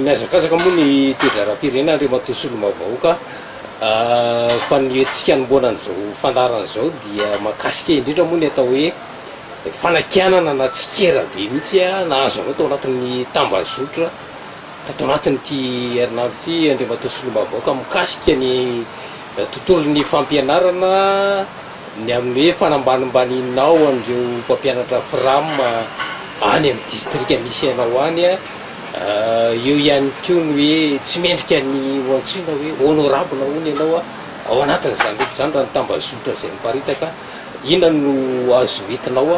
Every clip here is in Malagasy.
Mihazakazaka moa ny toe-draharaham-pirenena, Andriamatoa Solombavambahoaka, fa ny hetsika anombohana an'izao fandaharana izao dia mahakasika indrindra moa ny atao hoe fanakianana na tsikera be mihitsy nahazo anao tao anatin'ny tambazotra tato anatin'ity herinandro ity, Andriamatoa Solombavambahoaka, mikasika ny tontolon'ny fampianarana. Ny amin'ny hoe fanambanimbaninao an'ireo mpampianatra fram any amin'ny distrika misy anao any, eo ihany koa ny hoe tsy mendrika ny ho antsoina hoe honorable hono ianao ao anatin'izany rehetra izany raha ny tambazotra izay miparitaka, inona no azo entinao?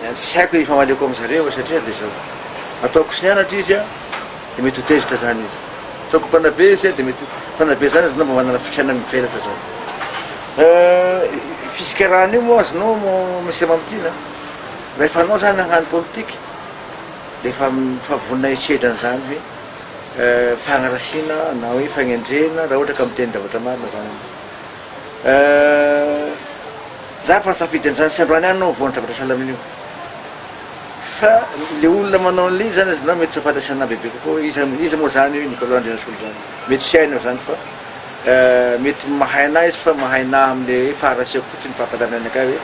dia tsy haiko ny hifamaliako amin-dry zareo satria dia izao, ataoko sy ny anatra izy an, dia mety ho tezitra izany izy, ataoko mpanabe izy an, dia mety mpanabe izany izy, na mba manana fisainana mivelatra izany. Fisikerahan' io moa azonao Monsieur Mamtina, rehefa anao izany hagnano politika dia efa efa vonona hisedra an'izany hoe fagnarasiana na hoe fagnendrena raha ohatra ka miteny zavatra marina izany ianao. Eh! Za efa nisafidy an'izany sy androany ihany no vao nidrakotra sahala amin'io. Fa le olona manao an'le izy zany aza na mety tsy fantany sanahy bebe kokoa iza iza moa zany io Nicolas Andrianasola zany. Mety tsy hainy aho zany fa eh, mety mahay anahy izy fa mahay nahy am'le hoe faharasiako fotsiny ny fahafantarany anakay hoe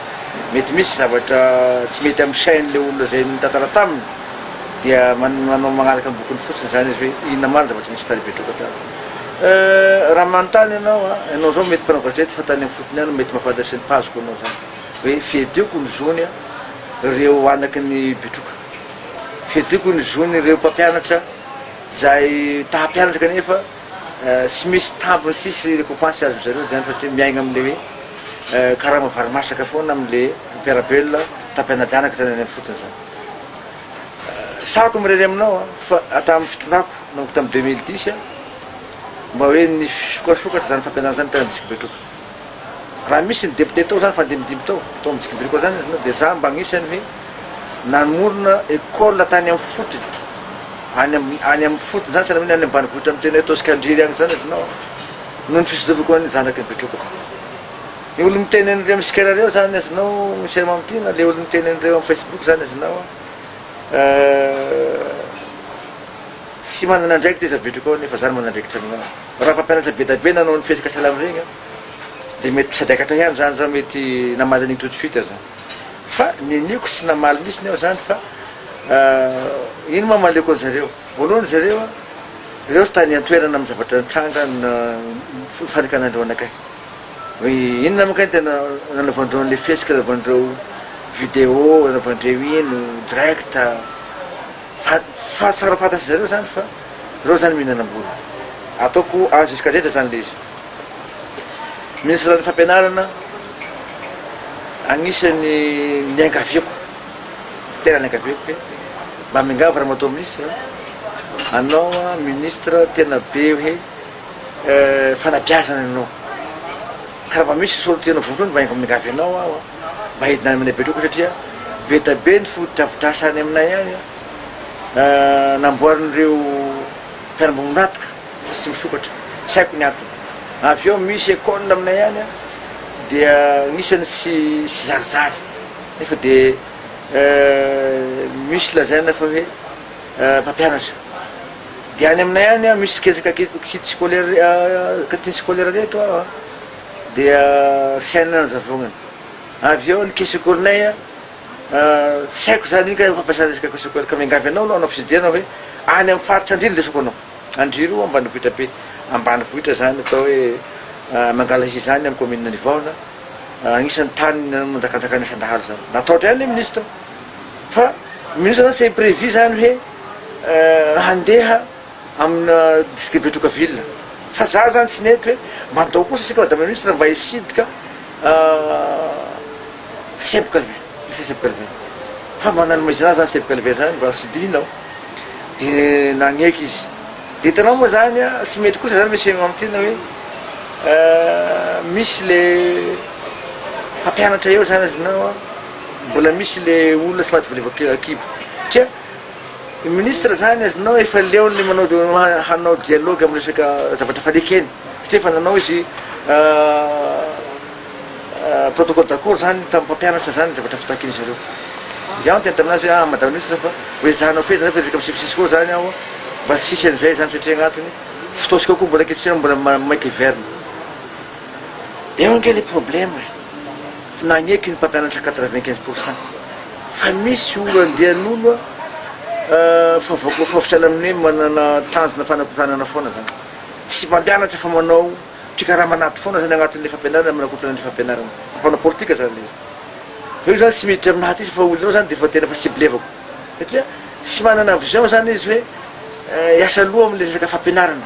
mety misy zavatra tsy mety am sain'le olona zay nitantara taminy dia manao manaraka am bokony fotsiny zany izy hoe inona ma ny zavatra nisy tany Betroka tany. Euh raha manontany ianao a, ianao zao mety mpanao gazety fa tany am fotony any mety mahafantatra sy ny page ko anao zany hoe fiadiako ny zony a reo anaky ny bitroka, fiadiako ny zony reo mpampianatra zay ta hampianatra kanefa sy misy tambiny sy sy rekopansy azony zareo zany satria miaigna amle hoe karama vary masaka foana amle mpiara belona ta mpianajanaka zany any am fotony zany. Sahako mirery aminao an, fa hatramin'ny fitondrako nanomboka tamin'ny deux mille dix an, mba hoe ny fisokasokatra izany fampianarana izany tany amin'ny district betroka. Raha misy ny député tao izany fandimbidimby tao, tao amin'ny district betroka izany izy no dia izaho mba anisany hoe namorona école tany amin'ny fotony, any amin'ny any amin'ny fotony izany, sahala amin'ny hoe any ambanivohitra amin'ny tena hoe Toscandriry any izany izy no an, noho ny fitsilovako an'ny zanaky ny betrokako. Le olo miteny an'ireo mskera reo zany azonao miserma amty na le olo miteny an'ireo am facebook zany azonao tsy manana andraikitra izy apetrako ao nefa zany manana andraikitra aminao raha mpampianatra bedabe nanao ny fihetsika salam regny de mety mpisadaikatra ihany zany zao mety namaly an'igny tout de suite zany fa niniako tsy namaly mitsy ny aho zany fa ino ma maleoko anzareo voalohany zareo reo tsy tany antoerana am zavatra nitranga ny fanikanandreo anakay Hoe inona moa kay tena nanaovandreo an'le fihetsika nanaovandreo video nanaovandreo iny ho direct a! Fa fa tsara fantatsizareo zany fa reo zany mihinanam-bola. Ataoko a jusqu'à zay de zany le izy. Minisitran'ny fampianarana agnisan'ny niangaviako, tena niangaviako hoe mba miangavy ramatoa minisitra a, anao a minisitra tena be hoe. fanabeazana anao ka raha misy sorona tianao vokany mba enga miangavy anao aho a mba hidina any aminay betroko satria be dia be ny fotodrafitrasa any aminay any a namboarin'ireo mpiara-miombon'antoka fa tsy misokatra tsy haiko ny antony avy eo misy école aminay any a dia anisany tsy tsy zarizary nefa dia misy lazaina fa hoe Mpampianatra. Dia any aminay any an, misy kezaka kit scolaire, cantine scolaire re eto an, dia saine ny hazavonana. Avy eo ny kit secours-nay an, tsy haiko izany iny ka fampiasana resaka kit secours, ka miangavy anao aloha hanao fitsidiana hoe any amin'ny faritra Andry no lesoko anao. Andry roa ambanivohitra be, ambanivohitra izany atao hoe Mangalahia izany amin'ny commune-n'i Vahona, anisan'ny tany nanjakanjakan'ny asan-dahalo izany. Natahotra ihany ilay ministra. Fa mino za zany c'est prevu zany hoe handeha amina district Betroka ville. Fa za zany tsy mety hoe mandao kosa tsika madame la ministre mba hisidika Seb Calvin, lycée Seb Calvin. Fa mba nanomaizina azy zany Seb Calvin zany mba sidihina aho. De nagneky izy. De hitanao moa zany a, tsy mety kosa zany monsieur am ty na hoe misy le mpampianatra eo zany azonao a. Mbola misy le olona sady volevoka kibo tsia ny ministre zany azonao efa leony manao hanao dialogue amin'ny resaka zavatra fadika eny satria efa nanao izy protocole d'accord zany tamin'ny mpampianatra zany ny zavatra fitakiany zareo dia aho niteny taminazy hoe ah madame ministre fa ho ezahanao fehezina zany fa resaka misifisisika ao zany aho mba tsy hisy an'izay zany satria agnatiny fotoantsika koa mbola ankehitriny mbola maika hiverina Eo ange le problème e! Fa nagneky ny mpampianatra quatre vingt quinze pour cent fa misy olo andian'olo a! Fa voakofaofotra any amin'ny hoe manana tanjona fanakotanana foana zany. Tsy mpampianatra fa manao mpikarama anaty foana zany agnatin'ilay fampianarana manakotana ilay fampianarana. Fa mpanao politika zany le izy. Fa io zany tsy miditra aminaha ty fa olonao zany defa tena efa ciblevako satria tsy manana vision zany izy hoe hiasa loha amin'ilay resaka fampianarana.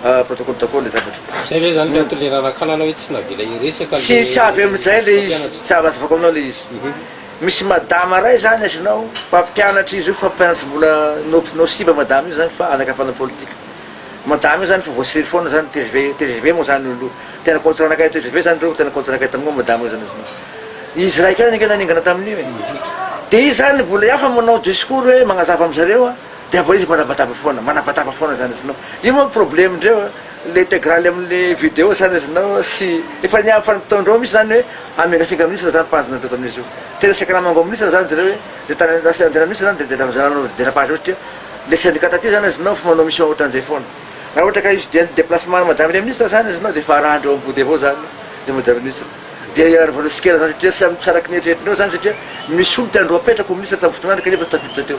Protocole daholo le zavatra. Zay ve zany le antony le nanakanana hoe tsy navela hiresaka le Tsisy avy amin'izay le izy, tsy azo azavako aminao le izy. Misy madama ray zany azonao, mpampianatra izy io fa mpampianatra mbola no no siba madama io zany fa anakavana politika. Madama io zany efa voasiriry foana zany tgv tgv moa zany olo tena contre anakay tgv zany reo tena contre anakay tamin'io madama io zany azonao. Izy ray kay ange naningana tamin'io e. De izy zany mbola hafa manao discours hoe magnazava amzareo a, de amboa izy manabataba foana manabataba foana zany izy nao io manko probleme ndreo le integrale aminy video zany izy nao sy efa niavy fa nataony reo misy zany oe hamela finga minisitra zany page nataony tamin'izy io tena saika namango amin'ny minisitra zany zreo oe ze tany andrasana anjena minisitra zany de de tamin'izay nanao videra page ohatry ny le syndicat taty zany izy nao fa manao mission ohatran'izay foana raha ohatra ka hividian ny deplacement ny madame le minisitra zany izy nao de efa arahan'dreo am body avao zany le madame minisitra de iarovan'reo sikera zany satria samy tsy araky ny eritreritrin'reo zany satria misy olona tiandreo apetraka ho minisitra tamin'ny fotoanany kanefa tsy tafiditra teo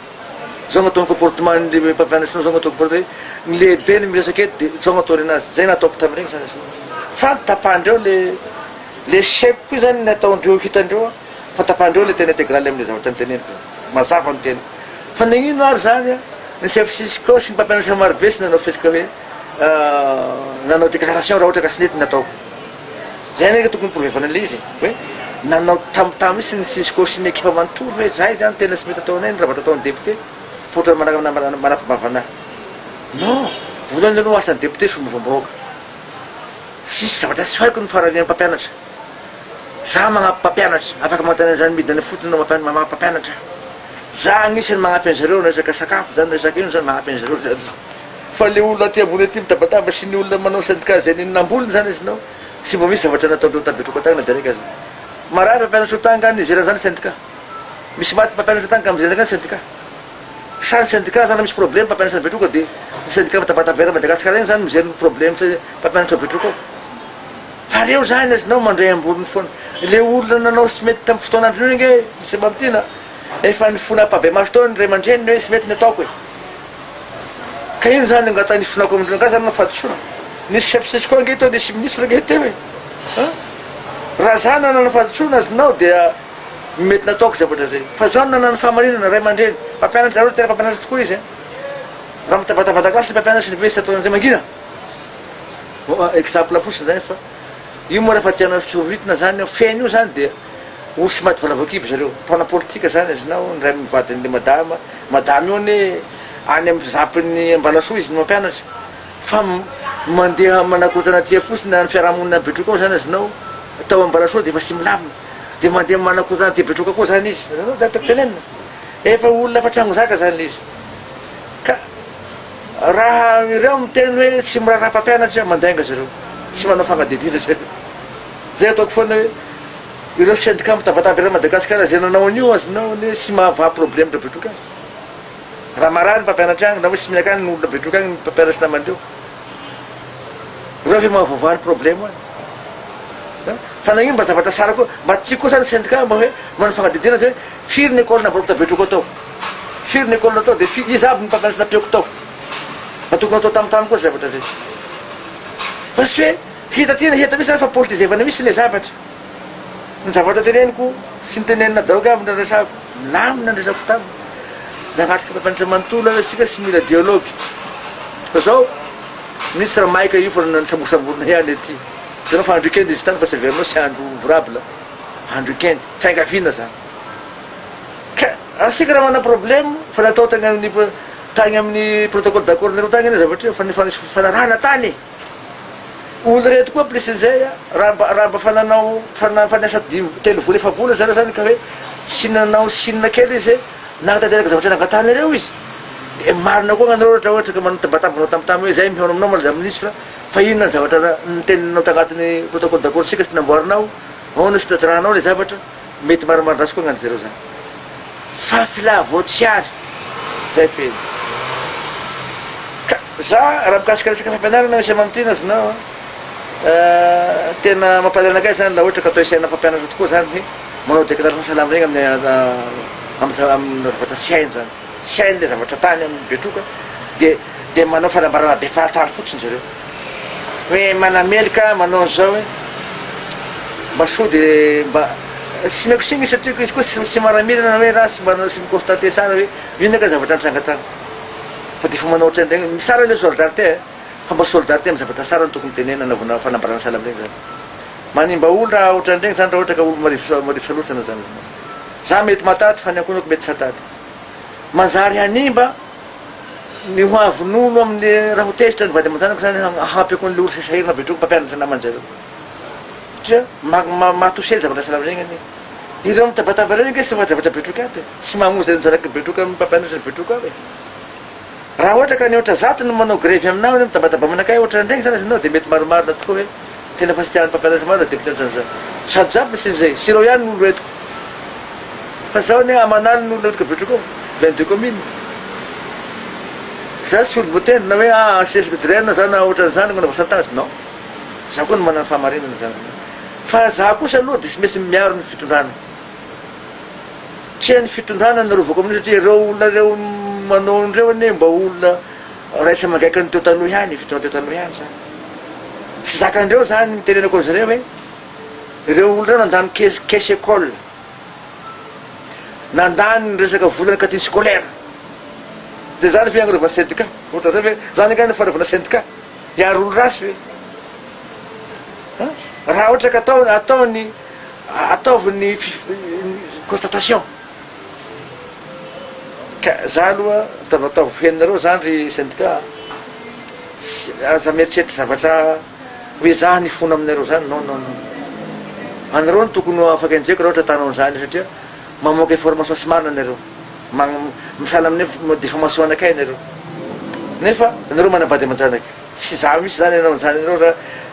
Zao agnatao ny comportement ny mpampianatra anao zao agnatao comportement hoe ny lehibe no miresaka eto de zao agnatao nenazy zay nataoko tamin'ireny sasany sasany fa ny tapandreo le le chef koa zany ny ataondreo hitandreo an fa tapandreo le tena integrale amle zavatra niteneniko zany mazava ny tena fa nagnino ary zany an ny chef cisco sy ny mpampianatra marobe tsy nanao fihetsika hoe nanao declaration raha ohatra ka tsy nety ny nataoko Zay nge tokony provevana an'ilay izy hoe nanao tamotamo mintsy ny cisco sy ny ekipa manontolo hoe zay zany tena tsy mety ataonay ny zavatra ataon'ny député poitra manaraka namana manafibavana non voalohany aloha asan'ny député somovam-bahoaka tsisy zavatra tsy haiko ny faranian'ny mpampianatra za magnampy mpampianatra afaka manontany an'izany midina any fotony no mampian- magnampy mpampianatra za agnisan'ny magnampy an'izareo ny resaka sakafo zany resaka ino zany magnampy an'izareo zany fa le olona aty ambony aty mitabataba sy ny olona manao syndicat zay nini namboliny zany izy nao tsy mba misy zavatra nataondreo tabetroka tany na direka aza marary fa mpianatro tany nga nizera zany syndicat misy maty mpampianatra tany ka mizera nga syndicat sa ny syndicat zany misy probleme mpampianatra ny betroka de ny syndicat mitabataba eran'i madagasikara eny zany mijery ny probleme tsy mpampianatra betroka ao fa reo zany azy nao mandray ambolony foana le olona nanao sy mety tamin'ny fotoan'androny io nge misy mamitina efa ny fona ampabemaso tao ny ray aman-dreniny hoe sy mety ny ataoko e Ka ino zany angata ny ifonako amin-dry rangahy zany no fahadisoana? Nisy chef Cisco ange teo, nisy ministre ange teo e! An! Raha za nanana fahadisoana aznao dia mety nataoko zavatra zay. Fa zaho no nanana fahamarinana, ray aman-dreny, mpampianatra, zareo no tena mpampianatra tokoa izy an! Raha mitabatabata classe ny mpampianatra sy ny be tsy ataon'ireo mangina. Bon, exemple fotsiny zany fa. Io moa rehefa tianao soritina zany eo feno io zany dia ory sy maty valavoakibo zareo. Mpanao politika zany azonao niray amin'ny vadin'ilay madama. Madama io anie any amin'ny zampin'ny Ambalasoa izy no mampianatra fa mandeha manakorontana aty fotsiny any fiarahamonina any Betroka ao zany azonao tao Ambalasoa dia efa tsy milamina dia mandeha manakorontana aty Betroka koa zany izy. Azonao zany tokony tenenina. Efa olona efa trangozaka zany ilay izy. Ka. Raha ireo miteny hoe tsy miraharaha mpampianatra, mandainga zareo, tsy manao fanadihadiana zareo. Zay ataoko foana hoe ireo syndicat mitabataba eran'i Madagasikara zay nanao an'io azonao anie tsy mahavaha problème ndra betroka aza. Raha marary ny mpampianatra agny na hoe tsy mihinan kanina olona betroka agny ny mpampianatry namany reo. Reo ve mahavoavaha ny problème any. Fa nagnino mba zavatra tsara koa mba tsy koa sa ny syndicat mba hoe manao fanadihadiana zay hoe. Firy ny école navaroako tabetroko ato? Firy ny école ato dia firy, iza aby ny mpampianatra nampiako tao? Mba tokony hatao tamin'ny tany koa izay zavatra izay. Fa tsy hoe hita aty na hita misy izany fa politizevana mihitsy ilay zavatra. Ny zavatra teneniko sy ny teneninà daoka aby ny resako, milamina ny resako taminy. Nanatrika mpampianatra manontolo aho hoe isika tsy mila dialogue. Fa izao, ministra maika io fa nisambosamborina ihany aty. Hitanao fa andro week-end izy tany fa tsy averinao tsy andro ouvrable, andro week-end. fiangaviana zany ka asika raha manana problème fa natao tany amin'ny tany amin'ny protocole d'accord nareo tany anie zavatra io fa ny fanarahana tany olo reto koa plus an'izay a raha mba raha mba fa nanao fa na fa niasa dimy telo vola efa-bola zareo zany ka hoe tsy nanao sinina kely izy hoe nanatanteraka zavatra nangatanareo izy de marina koa gnanareo ohatra ohatra ka manambatambina tampotampoka hoe zay mihaona aminao madame ministre fa inona ny zavatra niteninao tagnatin'ny protocole d'accord sika sy namboarinao Ahoana sotodrano ao le zavatra? Mety marimarindraso koa angah ry zareo zany. Fa filà vao tsy ary. Zay feno. Ka za raha mikasika resaka fampianarana misy amamtrina znao a, tena mampalahelo anakay zany la ohatra ka atao isaina mpampianatra tokoa zany hoe manao déclaration salamina iny amin'ny am am am am zavatra tsy hainy zany. tsy hainy ilay zavatra tany amin'ny Betroka dia dia manao fanambarana be fahatany fotsiny zareo hoe manameloka manao an'izao hoe mba soa dia mba tsy meko sy misy atriko izy koa tsy tsy manamirana hoe raha tsy manao sy mi-constater tsara hoe inona ka zavatra nitranga tany fa dia efa manao ohatrany regny tsara ilay solidarité eh fa mba solidarité amin'ny zavatra tsara no tokony tenenina anaovana fanambarana sahala amin'iregny zany manimba olo raha ohatrany regny zany raha ohatra ka olo marivo marivo salosana zany izy zany za mety mahatady fa ny ankohonako mety tsy hahatady manjary hanimba ny ho avy nono amin'ny raha ho tezitra ny vady aman-janaka izany hahampy akoa an'ilay orsa sahirana avy hatreo mpampianatra namany zareo satria mahatosely zavatra tsy lavina egny anie ireo mitabataba ireo ange tsy maha zavatra betroka aby e tsy mamoa zareo ny zanaky ny betroka amin'ny mpampianatra ny betroka aby e Raha ohatra ka ny aotra zato no manao grevy aminao anie midamadaba manakay ohatra an'iregny zany ianao dia mety marimarina tokoa hoe tena efa tsy tian'ny mpampianatra maro izay depiote otran'izany. Sady za mpisy izay sy ireo ihany no olo entiko. Fa zaho anie aman'aliny no olona entiko avy otrik'ao, plein de commune. Za tsy olom-botendry na hoe ah ancien fdrien na zany na otran'izany nanao chantage, non. Za koa no manana ny fahamarinana zany. Fa za kosa aloha dia tsy maintsy miaro ny fitondrana. Tsy hain'ny fitondrana ny arovako amin'io satria ireo olona ireo manao an'ireo anie mba olona raisina amangaiky ny teo taloha ihany, ny fitondrana teo taloha ihany izany. Tsy zakandreo izany ny tenenako an'izareo hoe ireo olona ireo nandany caisse caisse école, nandany ny resaka volan'ny cantine scolaire. Dia izany ve agnarovan'ny syndicat? Ohatra izay ve izany angaha no fanaovana syndicat? Hiaro olon-dratsy ve? Raha ohatra ka atao ataony Ataovy ny constatation ka za aloha ataovy ataovy ho henonareo zany ry syndicat a! tsy aza mieritreritra zavatra hoe za nifona aminareo zany non non non anareo no tokony ho afaka enjehiko raha ohatra atanao an'zany satria mamoaka information tsy marina nareo magn misahala amin'ny hoe diffamation anakay nareo nefa nareo manambady aman-janaka tsy za mihitsy zany hanao an'zany anareo raha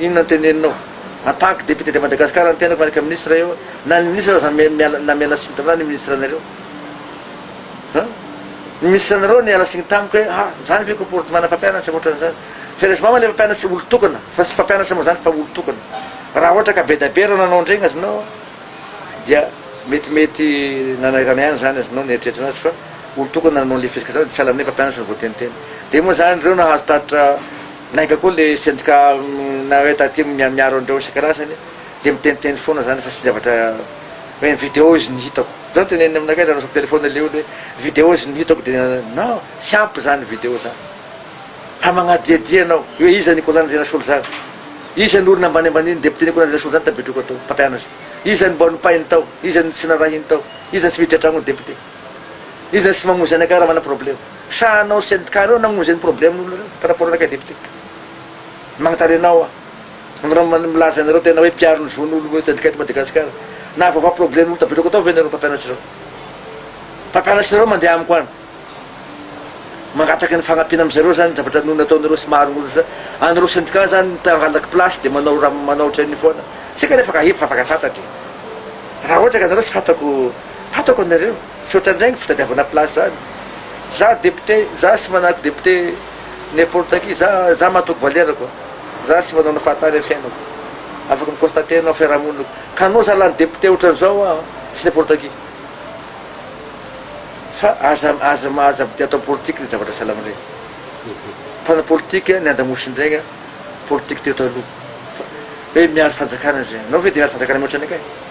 Inona no teneninao? En tant que député de Madagascar ny tenako miaraka ministre eo na ny ministre aza miala na miala signy taminah ny ministre anareo hein ny ministre anareo niala signy tamiko hoe ha zany ve comportement na mpampianatra otran'izany fe resy mama le mpampianatry olo tokana fa tsy mpampianatra mo zany fa olo tokana raha ohatra ka be da be reo nanao ndregny azy nao dia mety mety nanairana ihany zany azy nao nieritreritra anazy fa olo tokana nanao le fihetsika zany de tsy ala aminay mpampianatra ny voateniteny de mo zany reo nahazo tatitra Lainga koa le sendika nareo taty miaro an'ireo isan-karazany dia miteniteny foana zany fa tsy zavatra hoe vidéo izy no hitako. Zao teneniny aminakay zany resako téléphone le olo hoe vidéo izy no hitako dia non tsy ampy zany vidéo zany fa magnadiadia anao hoe iza Nicolas Nirasolo zany? Iza ny olona ambaniambaniny député Nicolas Nirasolo zany tabetriko atao mpampianatra? Iza ny mba nopahiny tao? Iza ny tsy narahiny tao? Iza ny tsy miditra an-tragnony député? Iza ny tsy mamonjy anakay raha manana problème? Sa anao sy an'i Carrot namono izay ny problème nareo par rapport anao kay député? Magnatare anao aho. Anareo man milaza anareo tena hoe mpiaro ny zon'olo hoe syndicat Madagascar. Na vaovao problème olo tapetrako atao ve nareo mpampianatry zao? Mpampianatry nareo mandeha amiko any. Mangataka ny fagnampiana am zareo zany zavatra no nataonareo sy maro olo za. Anareo syndicat zany no tangalaky place de manao ra manao ohatran'io foana. Tsy kanefa ka efa afaka fantatry. Ra ohatra ka nareo tsy fantako, fantako anareo. Misaotra indray ny fitadiavana place zany. Za député, za tsy manahaka député n'importe qui, za za matoky valerako, za tsy manaona fahatany am fiainako, afaka mi constater anao am fiarahamonina ko, ka anao za lany député otran'izao aho tsy n'importe qui. Fa aza aza aza mpitia atao politique le zavatra salama ndray. Mpanao politique ny andamosin'dregny an, politique teo taloha. Fa hoe miaro fanjakana zay, anao ve de miaro fanjakana mihoatra anay kay?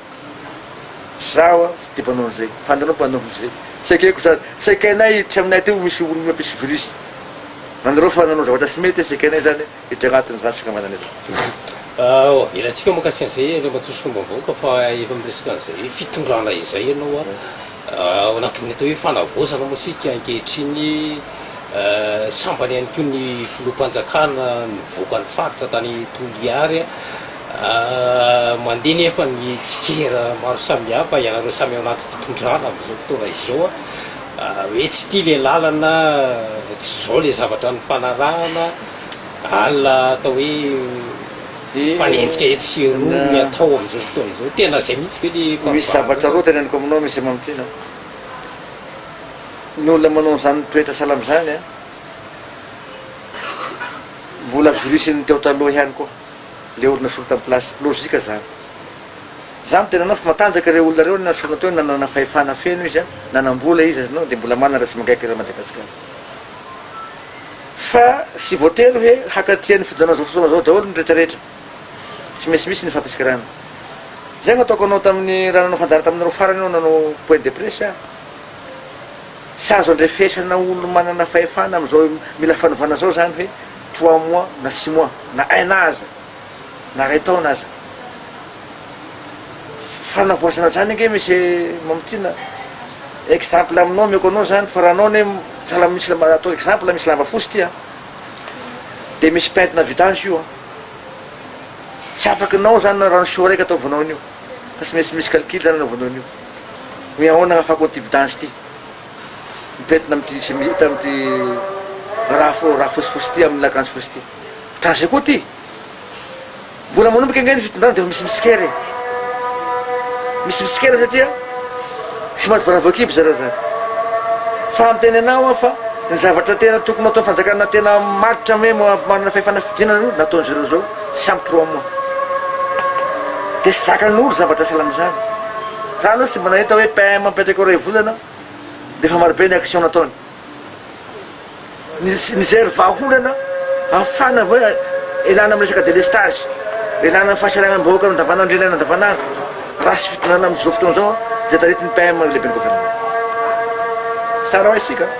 Zaho a tsy de mpanao an'izay fa anareo mpanao an'izay. Tsy ekeko zany. Tsy ekenay hiditra aminay aty ho misy olona mpisy virus. Anareo fa nanao zavatra tsy mety tsy ekenay zany hiditra agnatin'izany fikambanana izany. Aowa avelatsika mikasika an'izay Andriamatoa Solombavambahoaka fa efa miresaka an'izay fitondrana izay ianao a. Ao anatin'ny atao hoe fanavaozana moa isika ankehitriny. Sambany ihany koa ny filoham-panjakana nivoaka ny faritra tany Toliary. Mandeha nefa ny tsikera maro samihafa, ianareo samy ao anaty fitondrana amin'izao fotoana izao, hoe tsy tia ilay lalana, tsy izao ilay zavatra nifanarahana, alina atao hoe. mifanenjika etsy sy eroa ny atao amin'izao fotoana izao. Tena izay mihitsy ve ilay fahavalonao? Misy zavatra roa teneniko aminao Mister Mamitiana a! Ny olona manao an'izany toetra salama izany a, mbola jurisin'ny teo taloha ihany koa ilay olona solon tamin'ny place, logique izany. Izaho miteny anao fa matanjaka ireo olona ireo nesorina teo nanana fahefana feno izy a, nanam-bola izy a, dia mbola manana resy mangaika eto Madagasikara. Fa tsy voatery hoe hakaty an'io fifidianana izao fotoana izao daholo ny rehetra rehetra. Tsy maintsy misy ny fampitsikarana. Izay no ataoko anao tamin'ny raha nanao fandaharana taminareo farany aho nanao point de presse aho. Tsy azo andrefesana olo manana fahefana amin'izao mila fanovana izao izany hoe trois mois na six mois na un an aza. na ray taona aza. Fanavoazana zany ange Monsieur Mamitiana, exemple aminao omeko anao zany fa raha anao anie sahala misy lamba atao exemple misy lamba fotsy ity a, de misy pentina vita an'zy io a, tsy afaky nao zany na rano chaud raika ataovanao an'io fa tsy maintsy misy calcul zany anaovanao an'io hoe ahoana ahafahako an'ity vidange ity mipentina am'ty sy hita am'ty raha fo- raha fotsifotsy ity amin'ny akanjo fotsy ity. Danger koa ty. Mbola manomboka ange ny fitondrana dia efa misy mitsikera e. Misy mitsikera satria tsy maty baravoakibo zareo zany. Fa miteny anao aho fa ny zavatra tena tokony atao fanjakana tena maritra hoe manana fahefana fidinana aloha nataon'i zareo zao tsy ampy trois mois. Dia tsy zakan'olo zavatra sahala amin'izany. Za aloha tsy mba nahita hoe PM mipetraka eo iray volana dia efa marobe ny action nataony. Nisy nijery vahaolana hahafana hoe ilana amin'ny resaka délestage, ilana amin'ny fahasahiranam-bahoaka eo andavanandro ilaina andavanandro, raha tsy fitondrana amin'izao fotoana izao izay taritin'ny PM ny lehiben'ny governemanta. Tsara ho haintsika an!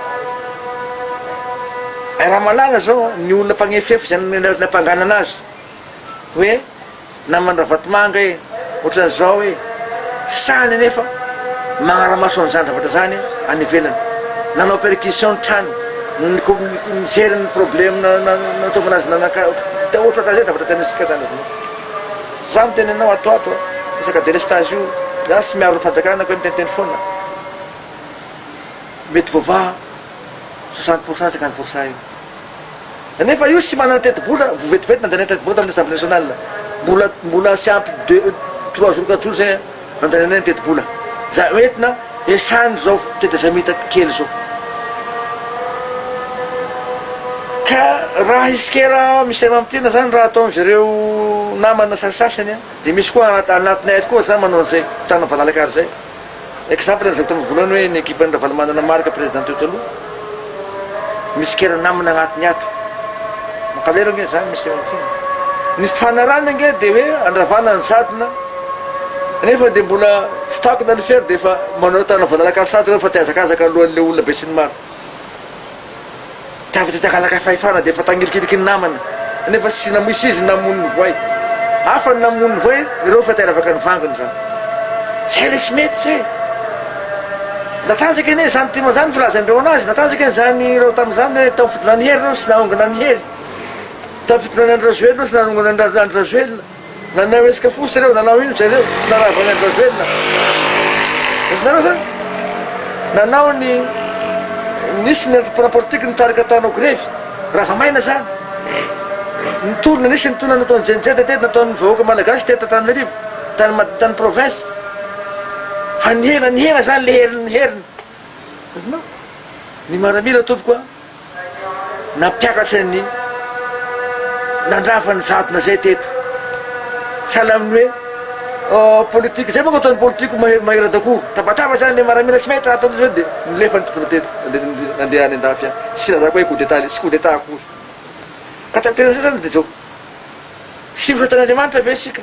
Raha mahalala izao ny olona mpagnefefa izay nampanganana azy hoe. Naman Ravatomanga e! Otrany zao e! Sahy nefa magnaramaso an'izany zavatra zany any ivelany. Nanao perquisition ny trano, nijery ny probleme nahatonga azy nanaka, de otraka zay zavatra ataontsika zany izy io. Za miteny anao ato ato a, resaka delestage io, za tsy miaro ny fanjakana ka miteniteny foana. Mety voavaha. soixante pour cent cinquante pour cent iny nefa io tsy manana tetibola vo vetivety nandany tetibola tamin'ny assemblée nationale mbola mbola tsy ampy deux trois jours quatre jours zay nandananay ny tetibola za entina esany zao tetezamita kely zao ka raha isikera misy mamitiana zany raha ataon'izy ireo namana sasasany dia misy koa anatinay ato koa zany manao an'izay tana valalakaro zay Exemple an'izay tamin'ny voalohany hoe ny ekipa an'i Ravalomanana Marc président teo taloha misy kera namana agnatiny ato. Mankaleo ange zany Mister Antsimo. Ny fanarany ange dia hoe andravana ny sadina nefa dia mbola tsy takona ny fer dia efa manao tana voadalaka ny sadina fa te hazakazaka alohan'ilay olona be sy ny maro. Tavy tety ankalakay fahefana dia efa tangirikiriky ny namana nefa tsy namoy sy izy ny namono ny voay. Hafa ny namono ny voay ireo efa teravaka ny vangony izany. Zay ilay tsy mety zay. Natanjaka anie izany tim izany filazain'ireo anazy, natanjaka anie izany ireo tamin'izany hoe tamin'ny fitondrany Hery ireo tsy nahongona an'i Hery. Tamin'ny fitondrany Andry Rajoelina ireo tsy nanongona an'i Andry Rajoelina. Nanao resaka fotsy reo, nanao ino jareo tsy narava ny andrajoelina? Azonareo zany? Nanao ny nisy ny antoko parapolitiky nitarika tao anao grevy, ravamaina zany. Ny tolona nisy ny tolona nataon'ny jenjed tety nataon'ny vahoaka malagasy tety Antananarivo, tany tany province. Fa nihena nihena zany le heriny ny heriny. Azonao? Ny maramila tompoko a. nampiakatra ny nandrava ny jadona zay teto sahala amin'ny hoe euh, politika zay manko ataon'ny politiko mahery dakoa tabataba zany le maramila tsy mety raha ataon'izy hoe dia milefa ny tokony teto nandeha any an-dafy any tsy lazako hoe coup d'état le tsy coup d'état akory ka tanterana zay zany dia zao tsy misaotra an'Andriamanitra ve isika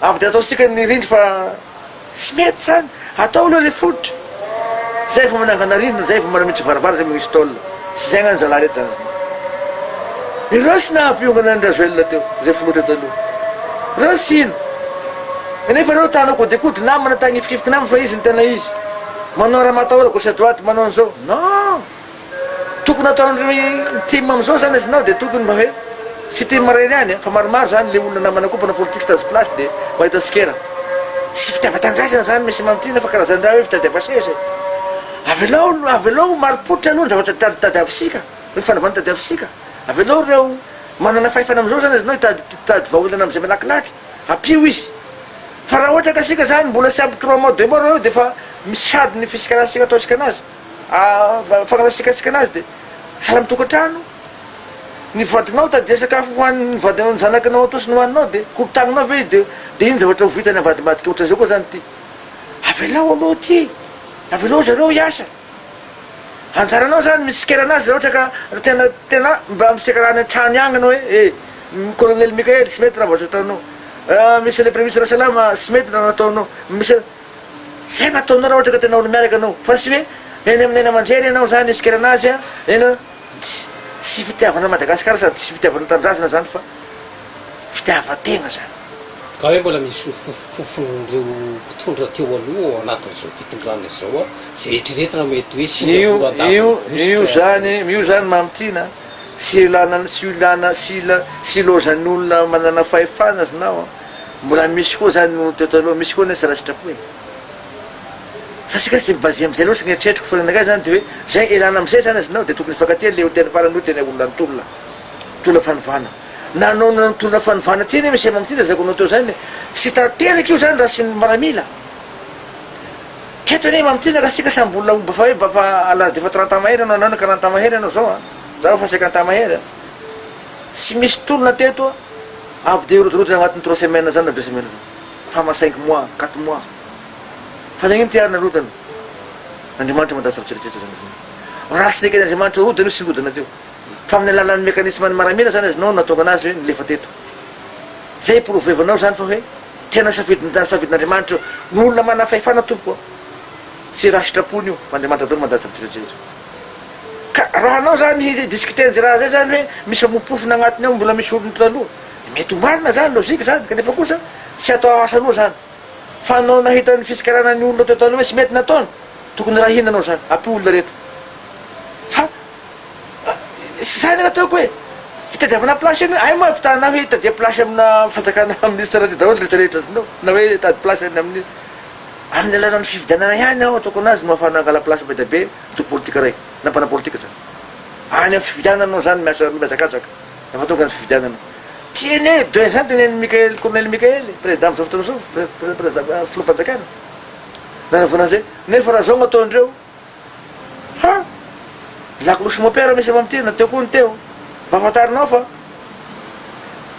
Avy dia ataontsika ny rindry fa tsy mety izany, atao aloha ilay fototra, izay vao manangana rindrina, izay vao manamiditra varabara, izay vao misy tôle, tsy izay angano zalahy rehetra izany zany. Ireo tsy nahaviongana an'i Rajoelina teo, izay filoha teto aloha, ireo tsy hino, nefa ireo ta-hanao kodikodry namana, ta-hanifikifiky namana fa izy no tena izy, manao raha matahola gauche à droite, manao an'izao, non! Tokony ataon'ny tim amzao zany izy nao de tokony mba hoe tsy tim iray ihany an, fa maromaro zany le olona namana koa mpanao politika stazy place de mahita tsikera. Tsy fitiavan-tanindrazana zany Monsieur Mamitiana fa karazan-draha hoe fitadiava seza e. Avelao avelao ho marim-pototra aloha ny zavatra tadi tadiavisika, ny fanavana tadiavisika. Avelao ireo manana fahefana amzao zany izy nao hitady hitady vahaolana amzay malakilaky hampio izy. Fa raha ohatra ka sika zany mbola tsy ampy trois mois deux mois reo defa misy sado ny fisikarantsika ataontsika anazy. fanaratsian-tsikasika anazy dia sahala amin'ny tokantrano ny vadinao tadia sakafo ho an'ny vadinao ny zanakanao atosiny ho aninao dia korontaninao ve izy dia iny zavatra ho vitany avadibadika ohatr'izay koa zany ity avelao aloha ity avelao zareo hiasa anjaranao zany misikera anazy raha ohatra ka raha tena tena mba miseka raha any an-trano ihany ianao hoe e kolonely Mikael tsy mety raha vao ataonao misy le premisy raha salama tsy mety raha nataonao misy Zay no ataonao raha ohatra ka tena olo-miaraka anao fa tsy hoe eny amin'ny haino aman-jery ianao zany iskerana azy a eny a tsy fitiavana an'i Madagasikara sady tsy fitiavana tanindrazana zany fa fitiavan-tegna zany. Ka hoe mbola misy hofofofofon'ireo mpitondra teo aloha ao anatin'izao fitondrana izao a, izay eritreretina mety hoe Singapour andavan'ny vositra a. Io zany mamintina a, tsy ilana tsy ilana tsy ila tsy ilaozan'ny olona manana fahefana znao a. Mbola misy koa zany no teo taloha, misy koa nefa tsy raisin-trapo e! Fa isika tsy mi-baser amizay loatra, ny eritreritiko foana anakay zany de hoe, zay ialana amizay zany azonao de tokony hifankatia le hotely farany hoe tena olona nitolona, nitolona fanovana. Nanao ny nitolona fanovana ty anie misy amam ty lazaiko anao teo zany e! Tsy tanteraka io zany raha tsy ny miaramila. Teto anie amam ty na ka isika samy mbola omby efa hoe efa à l'age d'efa trente ans mahery anao na ka trente ans mahery anao zao a! Za efa cinquante ans mahery a! Tsy misy tolona teto a! Avy dia hirotirotina agnatin'ny trois semaines zany na deux semaines zany. Fa ma cinq mois, quatre mois. Fa nagnino ty ary narodana? Andriamanitra mandaha zavatra rehetra zany zany. Raha tsy neken'Andriamanitra horodana io tsy nirodana teo. Fa amin'ny alalan'ny mécanisme-n'ny maramila zany azonao no nahatonga anazy hoe nilefa teto. Zay iporovoevanao zany fa hoe tena safidin'ny tany safidin'Andriamanitra ny olona manana fahefana tompoko a! Tsy raha sitrapony io fa Andriamanitra daholo mandaha zavatra rehetra rehetra. Ka raha anao zany i discuter an'zay raha zay zany hoe misy amofopofona agnatiny ao mbola misy olony taloha de mety ho marina zany logique zany kanefa kosa tsy atao asa anao zany fa anao nahita ny fisikarana ny olona teo taloha hoe tsy mety nataony tokony raha inona anao zany ampio olona rehetra fa zany ny ataoko hoe fitadiavana place eny hoe ay moa avitana ahy hoe itadia place amina fanjakana ministre raha ty daholo retraretra azonao na hoe tady place any amin'ny Amin'ny alalan'ny fifidianana ihany aho ataoko anazy no afahana angala place be dia be ny toby politika iray, na mpanao politika izany. Any amin'ny fifidianana no izany miasa mihazakazaka, rehefa tonga ny fifidianana. Tian'e de izany tenenin'i Mickael, Kolonely Mickael e, Président amin'izao fotoana izao, Président, Filoham-panjakana. Nanavona an'izay. Nefa raha izao no ataondreo. Fa lakolosy mopera misy ao amin'ity na teo koa ny teo. Mba fantarinao fa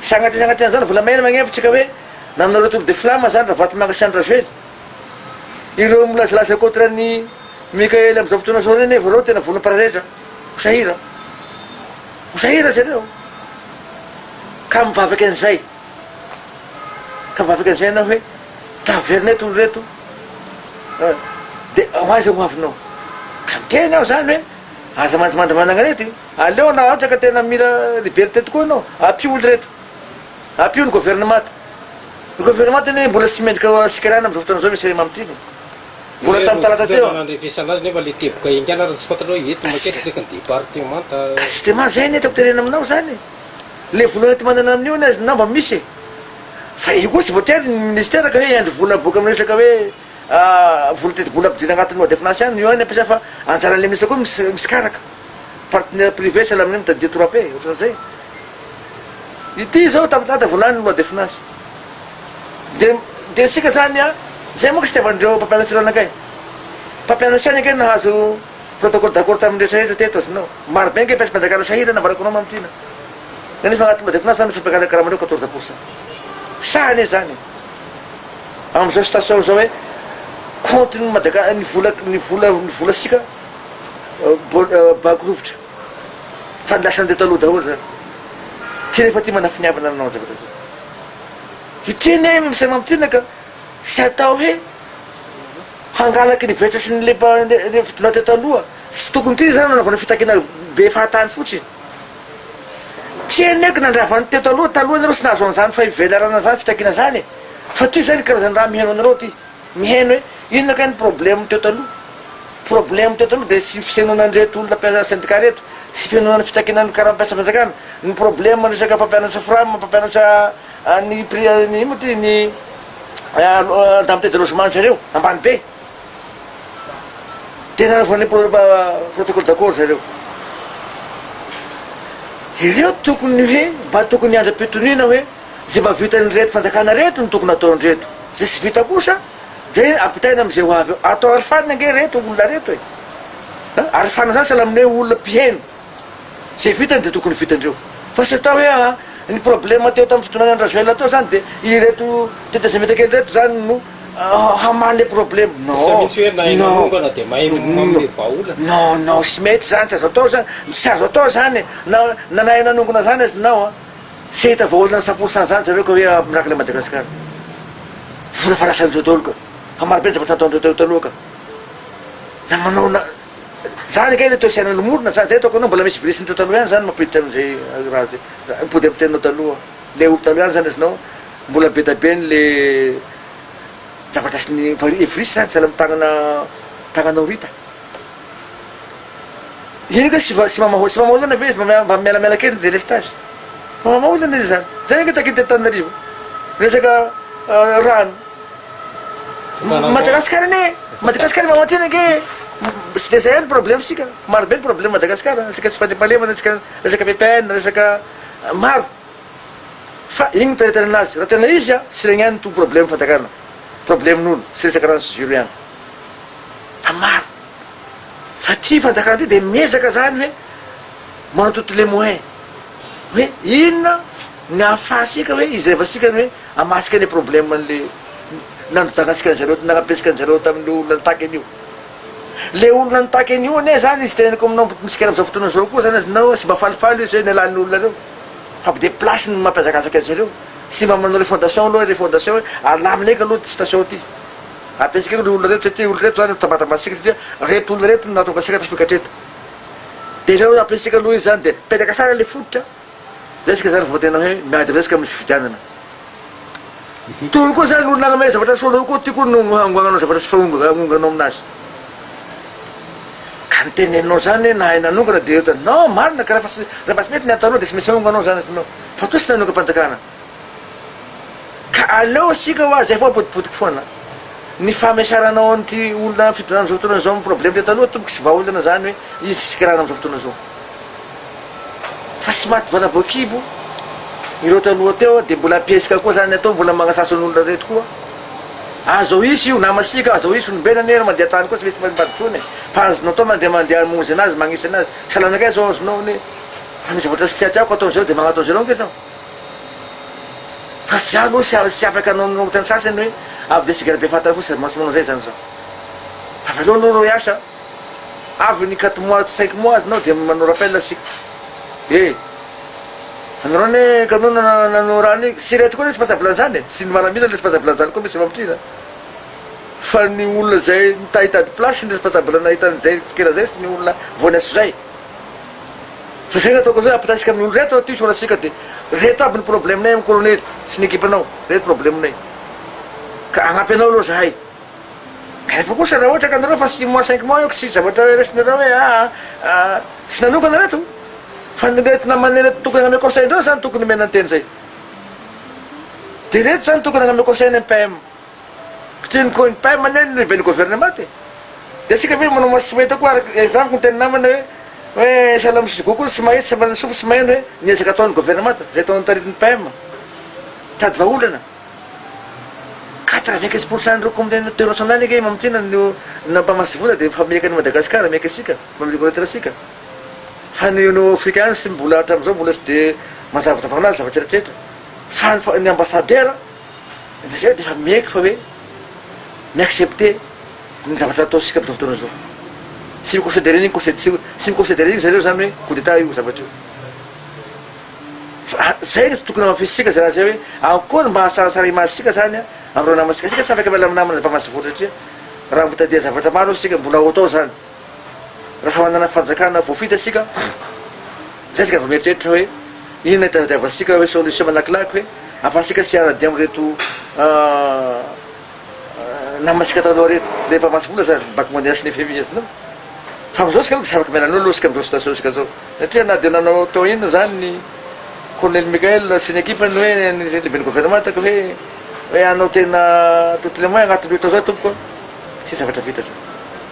sagnatria sagnatria an'izany volamena magnevitra ka hoe nanao retour de flamme zany Ravatomanga sy Andry Rajoely. Ireo milazalaza contre an'i Mickael amin'izao fotoana izao ireo nefa ireo tena vono mpiraretra. Ho sahira. Ho sahira zareo. Ka mivavaka an'izay. Ka vao afaka izay ianao hoe taverina eto olo reto de ho aiza ho avinao? Ka miteny aho zany hoe aza mandrimandry mananarety, aleo raha ohatra ka tena mila liberté tokoa ianao ampio olo reto, ampio ny governemanta. Ny governemanta anie mbola tsy mendrika ho sikarana amizao fotoana izao ve sa i Mamotiana? Mbola tamin'ny talata teo aho. Nandrefesana azy nefa le teboka enga na raha tsy fantatrao eto makety isaky ny departemanta. Ka systema zay anie tiako terena aminao zany e. le vola ety manana anio anie izy namba misy e! fa io koa tsy voatery ny ministera ka hoe hiandry vola miboaka amin'ny resaka hoe vola tetibola ampidirina anatin'ny loi de finance ihany io ihany ampiasaina fa anjaran'ilay ministra koa misy misikaraka partenaire privé sahala amin'ny hoe mitadidia torape ohatran'izay ity zao tamin'ny date voalany ny loi de finance de de isika zany a zay manko tsy itiavan'ireo mpampianatra ireo anakay mpampianatra ihany ange nahazo Protocole d'accord tamin'ireo sahirana teto azy nao. Maro be ange piace mpanjakana sahirana ambarako anao mamitrina. Nenefa agnaty mba de finaritra zany fampiakarana karamanao quatorze pour cent. Sahy anie zany e. Amzao station zao hoe compte ny madaka ny vola ny vola ny vola sika banky rovitra. Fa ny lasany teto aloha daholo zany. Ty nefa ty manafiniavana anao zavatra zao. Hiteny ahy misy mamitrina ka. Tsy atao hoe hangalaka ny vetra sy ny leba nevidina teto aloha sy tokony ty zany nanaovana fitakiana be fahatany fotsiny. Tsy eny eky nandravany teto aloha taloha nareo tsy nahazo an'izany fahivelarana zany fitakiana zany e. Fa ty zany karazana raha miheno anareo ty. Miheno hoe inona kay ny problème teto aloha. Problème teto aloha de tsy fisenonan'ireto olona mpiasa syndicat reto, tsy fihenoana ny fitakiana ny karam-piasam-panjakana, ny problème resaka mpampianatra fram, mpampianatra. Any Pria iny moa ty ny Dame Tête de Los Manche reo, ambany be. Dia nareo vao hanao protocole d'accord zareo. Ireo tokony hoe mba tokony andram-pitoniana hoe zay mba vitan'ireto fanjakana reto no tokony ataon'ireto. Zay tsy vita kosa dia ampitaina amin'izay ho avy eo. Atao arifana ange ireto olona reto e. Arifana zany sahala amin'ny hoe olona mpiheno. Ze vitany de tokony vitandreo fa tsy atao hoe aa ny probleme teo tam fitondrana andrazoela teo zany de ireto tetezamita kely reto zany no hamaly le probleme non non non non tsy mety zany tsy azo atao zany tsy azo atao zany e na na nahay nanongona zany aza nao an tsy ahita vaholana cent pour cent zany zareo ka hoe miraka le madagasikara vola efa lasan'ireo daholo ka fa marobe ny zavatra nataondreo teo taloha ka na manao na Zany ange ilay toesainan ny morona zany, zay ataoko anao mbola misy virus nitao taloha ihany zany mampiditra anzay raha zay, mipody am teninao taloha, ilay omby taloha ihany zany azonao, mbola be da be ny le zavatra sy ny virus zany sahala am tagnana tagnanao rita, ino kay sy sy mamahol sy mamahol ana ve izy mba mba mialamela kely ny delestage, mamahol ana izy zany, zay ange takin'ny teto Tananarivo resaka rano. Madagascar anie Madagascar mba matin'ny ange tsy dia zay ihany problème sika maro be ny problème Madagascar resaka tsy fandriampahalemana resaka resaka VPN resaka maro fa iny no taretarena azy raha tena izy a tsy regny ihany no problème fanjakana problème n'olo tsy resaka rano sy jiro ihany fa maro fa ty fanjakana ty dia miezaka zany hoe manao toutes les moyens hoe inona ny ahafahantsika hoe izay vasikany hoe Hamasika le problème anle nanodana antsika anjareo nanabesaka anjareo tamle olona nitaky anio le olona nitaky anio anie zany izy teneniko aminao misikina amzao fotoana zao koa zany aznao sy mba falifaly izy hoe ny alain olona reo fa be de place ny mampihazakazaka anjareo sy mba manao le fondation aloha le fondation hoe alamina eka aloha ty station ty abesaka eko le olona reto satria olona reto zany mitambatambatra antsika satria reto olona reto no nahatonga antsika tafika hatreto de reo abesaka aloha izy zany de petraka sara le fototra Resaka izany vao tena hoe miady resaka amin'ny fifidianana. Tony koa izany olona hanome zavatra soa anao koa ty koa no hangoagnanao zavatra tsy fahonganonganao aminazy. Ka ny teneninao izany nahay nanongana dia ohatra non marina ka raha fa tsy raha mba tsy mety ny ataonao dia tsy maintsy ahonganao izany azy nao fa toa tsy nanongam-panjakana. Ka aleo isika hoa zay foana potipotika foana ny famesaranao an'ity olona amin'ny fitondrana amin'izao fotoana izao amin'ny problème teo taloha tompoko sy vahaolana zany hoe izy tsy sikirana amin'izao fotoana izao fa tsy maty valabo an-kibo ireo taloha teo dia mbola ampiesika koa zany atao mbola magnasasa ny olona reto koa azo ao hisy io namasika azo ao hisy olombelona anie mandeha tany koa tsy misy mpamimpadry intsony fa azonao atao mandeha mandeha hamonjy anazy magnisy anazy salanakay zao azonao anie fa ny zavatra tsy tiatiako ataon'izareo dia magnataon'izareo ange zaho Fa za aloha tsy tsy afaka hanao ny ohatran'ny sasany hoe avy dia singa be fantatra fotsiny sady mantsy manao izay izany zaho. Avy aleo aloha reo hiasa a! Avy ny quatre mois tsy cinq mois azinao dia manao rappel isika. E! Anareo anie kanoa no nanao raha an'iny. Tsy ireto koa ny responsable an'izany e! Tsy ny maramila ny responsable an'izany koa misy efa mitrina a! Fa ny olona izay mitahy hitady place ny responsable nahita an'izay tsikera izay sy ny olona vao niasa izay. Fa zay nataoko zay ampitaisika amin olo reto aty soratsika de reto aby ny problème nay am kolonely sy ny ekipa nao reto problème nay ka agnampy anao aloha zahay nefa kosa raha ohatra ka nareo fa six mois cinq mois eo ka tsy zavatra resinareo hoe aa tsy nanokana reto fa ny reto namanay reto tokony agname conseil ndreo zany tokony omena ny teny zay de reto zany tokony agname conseil ny mpm Kitrin ko ny PM anie no lehiben'ny gouvernement e! Dia isika ve manao maso tsy mahita koa araka ny amiko ny tena namana hoe hoe Salamo sy Gogo tsy mahita tsy manana sofina tsy maheno hoe ny ezaka ataon'ny gouvernement izay ataon'ny taritin'ny PM mitady vahaolana quatre vingt quinze pour cent ireo communauté nationale ange mamintina no nampamatsy vola dia efa mieka an'i Madagascar mieka isika mba mireconnaître isika fa ny no africain sy mbola hatramin'izao mbola tsy dia mazavazava ho anazy zavatra rehetrarehetra fa ny ambassadeur Dia izay dia efa miaiky fa hoe mi-accepter ny zavatra ataontsika amin'izao fotoana izao. Tsy mi-considerer an'iny conseil tsy tsy mi-considerer ry zareo izany hoe coup d'état io zavatra io. Fa a- izay no tsy tokony hamafisitsika izay raha izay hoe akory mba hahasalasala image antsika izany a, amin'ireo namantsika. Isika samy afaka miala amin'ny namana zava-mahasafotra satria raha mitadia zavatra maro isika mbola ho atao izany. Raha manana fanjakana voafita isika, izay isika vao mieritreritra hoe inona itadiavantsika hoe solution malakilaky hoe ahafahantsika tsy hiara-dia amin'ireto namantsika taloha ireto. Ilay mpamatsy vola zany, ny Banque mondiale sy ny FMI izy. Fa amin'izao isika aloha dia tsy afaka miala an'io aloha isika amin'izao situation isika izao. Satria na dia nanao tao inona izany ny Colonel Mickael sy ny ekipany hoe ny lehiben'ny governemanta ka hoe hoe hanao tena toutes les moyens agnatin'ny roa tao izao tompoko an, fa tsy zavatra vita izany.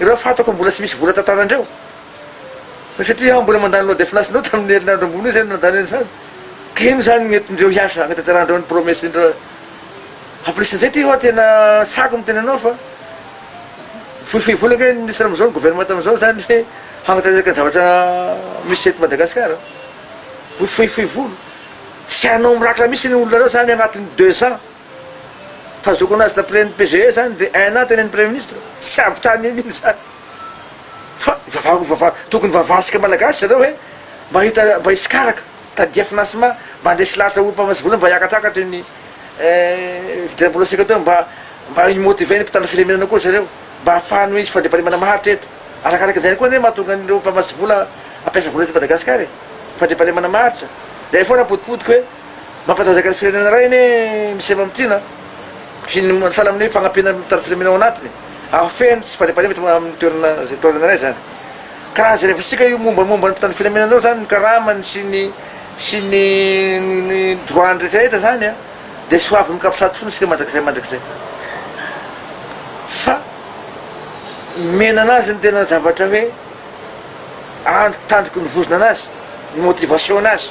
Ireo fantako mbola tsy misy vola tantanandreo satria aho mbola mandany loi de finance nao tamin'ny herinandro ambony io zay no nandany an'izany ka ino zany no entindreo hiasa hanatanterahindreo ny promesse indreo en plus nizay ty hoa tena sako ny tenanao fa fohifohy vola ange ny ministre amizao ny gouvernement amizao zany hoe hanatanteraka ny zavatra misy eto Madagascar fohifohy vola tsy hanao mirakitra misy ny olona reo zany agnatiny deux ans Fa zokin'ny azy d'après ny PGE zany de un an teny amin'ny premier ministre? Tsy avy tany anio zany. Fa vavako vava tokony vavasika malagasy zareo hoe mba hita mba hisy karaka, tadia financement mba handresy lahatra olom pamatsy vola mba hiakatrakatra io ny fidiram-bola sika teo mba mba hi motiver ny mpitandro filaminana koa zareo mba hahafahany hisy fandriampahalemana maharitra eto. Arakaraka izany koa anie mahatonga an'ireo mpamatsy vola hampiasa vola eto Madagasikara e. Fandriampahalemana maharitra. Zay foana potipotika hoe. Mampatanjaka ny firenena iray anie ny sehatra mamintina sy ny sahala amin'ny hoe fanampiana ny mitandro filaminana ao anatiny. Hahafehy ny tsy fandriampahalemana eto amin'ny toerana izay toerana iray izany. Ka raha jereva isika io mombamomba ny mpitandro filaminana io izany ny karamany sy ny sy ny ny droit-ny rehetrarehetra izany a, dia tsy ho avy mikampisady foana isika mandrakizay mandrakizay. Fa nomena anazy ny tena zavatra hoe andry tandroky ny vozona anazy, ny motivation anazy.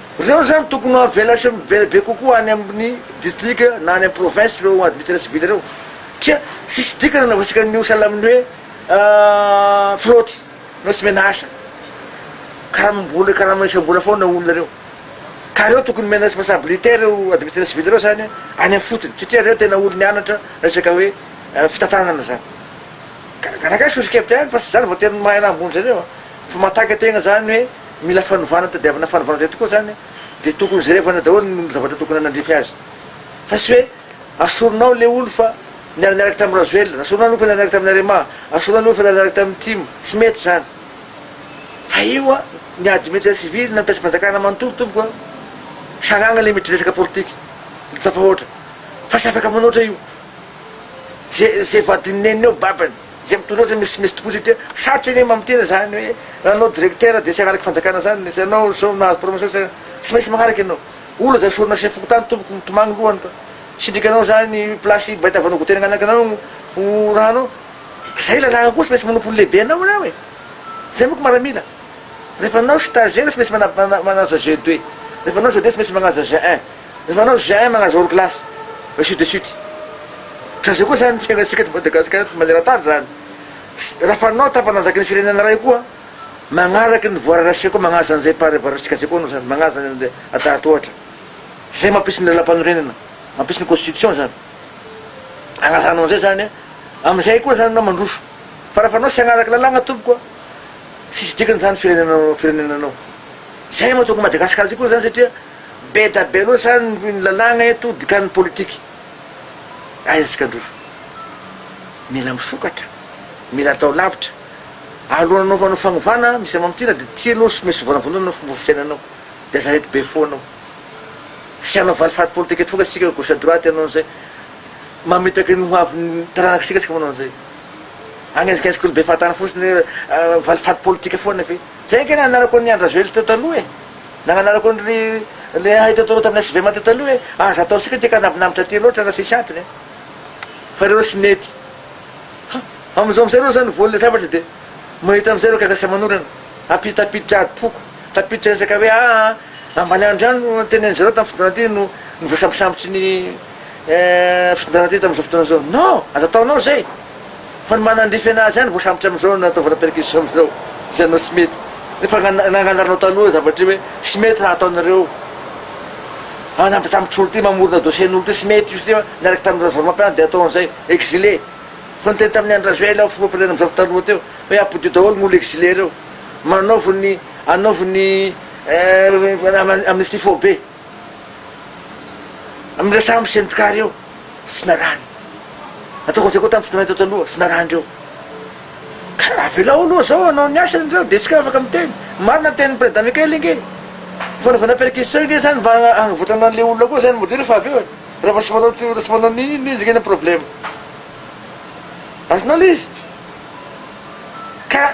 Ireo izany tokony ho avela sy mivela be kokoa any amin'ny distrika na any amin'ny province ireo arbitre civil ireo satria tsisy dikany nanaovantsika an'io sahala amin'ny hoe fraude na hoe tsy omena asa. Karamam-bola karama isam-bola foana ao olona ireo. Ka ireo tokony omena responsabilité ireo arbitre civil ireo izany any amin'ny fotony satria ireo tena olo nianatra resaka hoe fitantanana izany. Ka gaga sosokevitra ihany fa tsy izany voatery ny mahay raha ambony zareo fa mahataky an-tegna izany hoe. Mila fanovana tadiavina fanovana zay tokoa zany de tokony jerevana daholo ny omby zavatra tokony hanandrify azy fa sy hoe asoronao le olo fa niara niaraka tamin'ny rajoelina asoronao le olo fa niara niaraka tamin'ny arema asoronao le olo fa niara niaraka tamin'ny tim tsy mety zany fa io a ny admetsera sivily na mpiasam-panjakana manontolo tompoko a sagnagna le miditra resaka politika le tafahoatra fa sy afaka manoatra io ze ze vadin'ny neniny eo babany Izay mitondra azy misimisy tokoa satria sarotra anie mamin'ny tena izany hoe raha anao directeur dia tsy hanaraka fanjakana izany, izay anao izao nahazo promotion tsy tsy maintsy manaraka ianao. Olona izay sorona sy ny fokontany tompoko mitomany ny lohany ka sendrika anao izany place baita avy anao goûter nangalaka anao ho raha anao. Izay lalàna koa tsy maintsy manompo ny lehibe anao ianao e! Izay manko maramila. Rehefa anao stagiaire tsy maintsy mana mana manaja GD, rehefa anao GD tsy maintsy manaja GI. Ny manao j'aime agnazy hors classe, ainsi de suite. Ka zay koa zany ny fiainantsika eto Madagasikara eto maneran-tany zany. Raha fanao tampananjaky ny firenena iray koa, magnaraky ny voie racée koa magnaja an'izay mpahary avaratr'tsika zay koa anao zany, magnaja ny an'le adahad ohatra. Zay mampisy ny lalampanorenana, mampisy ny constitution zany. Agnazanao an'izay zany a, am'izay koa zany anao mandroso. Fa raha fanao tsy agnaraky lalàgna tompoko a, tsisy dikany zany firenenanao firenenanao. Zay mahatonga Madagasikara zay koa zany satria. Beda be loatra ny lalàna eto dikan'ny politika. Hay antsika ndroso. Mila misokatra, mila atao lavitra. Alohan'ny hanaovanao fanovana misy amamitiana dia tianao sy mety vonavonana ny fomba fiainanao. Dia aza reto be foana ao. Tsy hanao valifaty politika eto foana isika gauche à droite hanao an'izay. Mamitaka ny hoavin'ny taranak'isika isika manao an'izay. Agnenjikenjika olo be fahatany fotsiny hoe valifaty politika foana ve. Izay angamba nananako an'i Andry Rajoelina teo taloha e. Nagnanarako an ry rehaitra toro tamina svm teo taloha hoe aza atao sika ty ka nambinambitra aty loatra raha sisy antony an! Fa reo tsy nety. Ha! Amizao amizay reo zany voan'ilay zavatra dia mahita amizay reo gaga sy aman'orana. Ampitso tafiditra ady foko. Tafiditra resaka hoe aa ambaniandro ihany no tenenin'izareo tamin'ny fotoana ty no novoasambosambotry ny. Eh, fitondrana teto amin'izao fotoana izao. Non! Aza ataonao izay! Fa ny manandrify an'azy ihany vao sambotra amin'izao no nataovana perquisition amin'izao, izay anao tsy mety. Nefa nanga- nanganarinao tanora zavatra io hoe tsy mety raha ataonareo an! Anambitambitr'olo ity, mamorona dossier-n'olo ity, tsy mety io satria niaraka tamin'ny rajoelmampianatra dia atao an'izay, exilé! Fa niteny tamin'ny Andry Rajoel aho, filoham-pirenena amin'izao fotoana aloha teo, hoe ampodio daholo ny olo exilé ireo. Manaovo ny, anaovo ny eh, am- amnistie foibe. Amin'ireo sambo sy endrika ireo sy narany. Nataoko an'izay koa tamin'ny fotoana teo taloha sy narany ireo. Ka raha avelao aloha izao hanao ny asany ireo dia isika afaka miteny. Marina ny tenin'i Prezida Mikael ange. Fanaovana perquisition ange izany mba hagnavotrana an'ilay olona koa izany modely rehefa avy eo e. Rehefa tsy manao tsy tsy manao an'iny iny indrindra ny problème. Azonao ilay izy. Ka.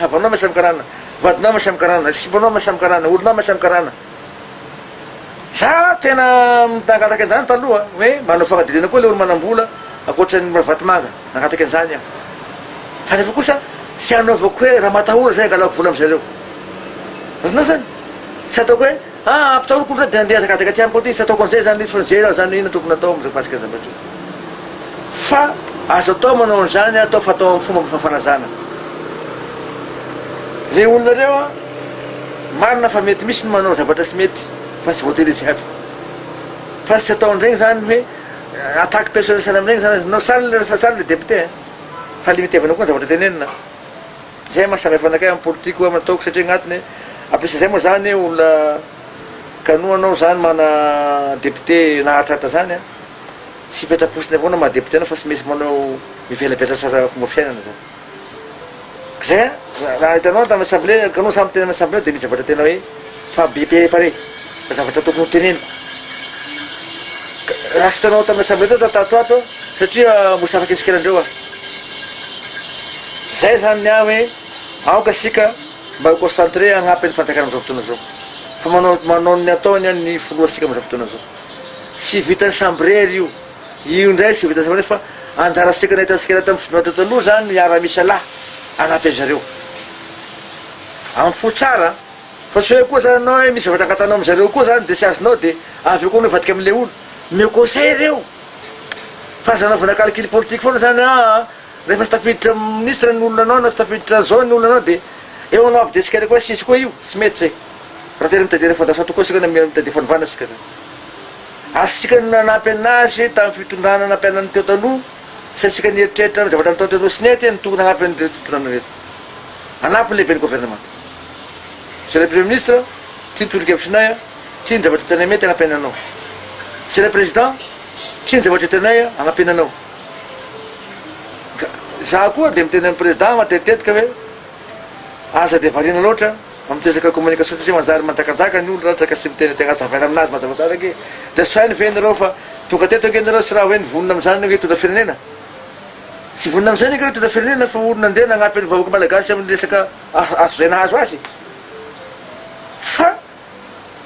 Havanao mahay samy karana, vadinao mahay samy karana, sipanao mahay samy karana, oronao mahay samy karana. Za tena nangataka an'izany taloha hoe manao fanadihadiana koa le olo manambola ankoatran'ny Ravatomanga, nangataka an'izany aho. Fa nefa kosa tsy anaovako hoe raha matahora zay angalako vola am'zareo. Azonao zany? Tsy ataoko hoe. Ha ampitahoriko otrany de andeha azakazaka aty amiko aty tsy ataoko anzay zany izy fa zay raha zany ina tokony atao amzao pasika anjambatra fa azo atao manao anzany atao fa atao am fomba mifafanazana le olona reo a marina fa mety misy ny manao zavatra tsy mety fa tsy voatery izy jiaby fa tsy atao anregny zany hoe attaque personnel sahala amregny zany aza no sahala sahala le député fa le itevana koa ny zavatra tenenina. Zay mahasamihfa anakay am politique oa am nataoko satria agnatiny ampiasanzay moa zany olona kanoa anao zany mana député naharitraritra zany an tsy hipetraposiny avao anao maha député anao fa tsy misy manao mivela betratra fomba fiainana zany. Kzay an raha hitanao an tam assemblée kanoa samy teny am assemblée ao de mizabatra tena hoe. Fa BP pare, fa zavatra tokony ho teneniko, raha tsy tanao tamin'ny assemblée teo za tato ato satria mosavaka isikelandreo aho. Zay zany ny ahy hoe aoka isika mba ho concentré hagnampy ny fanjakana amin'izao fotoana izao. Fa manao manao ny ataony ny filoha sika amin'izao fotoana izao. Tsy vitan'ny chambre ry io. Io indray tsy vita sambatra fa anjara sekoka nahitany sikera tamin'ny fifidianana teo taloha izany ny miaramisa lahy anatin'ny ry zareo. Amin'ny fo tsara an! Fa tsy hoe koa izany ianao hoe misy zavatra angatanao amin-dry zareo koa izany dia tsy azonao dia avy eo koa anao hivadika amin'ilay olo. Omeo conseil ireo! Fa aza anaovana calcul politique foana izany hoe aa rehefa tsy tafiditra minisitra ny olona anao na tsy tafiditra izao ny olona anao dia eo anao avy dia sikera koa sisy koa io! Tsy mety izay! Raha tena mitadia ny fandraisana tokoa isika na mitadia fanovana isika izany. Azontsika ny nanampy an'azy tamin'ny fitondrana nampiana ny teo taloha sy antsika nieritreritra ny zavatra nataon'ireto roa sy ny ety ny tokony hanampy an'ireto fitondrana ireto hanampy ny lehiben'ny governemanta. Zay ilay premier ministre, tsia ny tolo-kevitrinay a, tsia ny zavatra hitanay mety hanampiana anao. Zay ilay président, tsia ny zavatra hitanay a, hanampiana anao. Ka za koa dia miteny amin'ny président matetitetika hoe aza dia variana loatra. Amin'ny resaka communication satria manjary manjakazaka ny olona ratra ka tsy miteny tena tavela aminazy mazavazava ange de saino ve nareo fa tonga teto ange nareo tsy raha hoe nivonona amin'izany ange hitondra firenena tsy vonona amin'izany ange hitondra firenena fa olona ndeha nagnampy an'ny vahoaka malagasy amin'ny resaka azo zay nahazo azy fa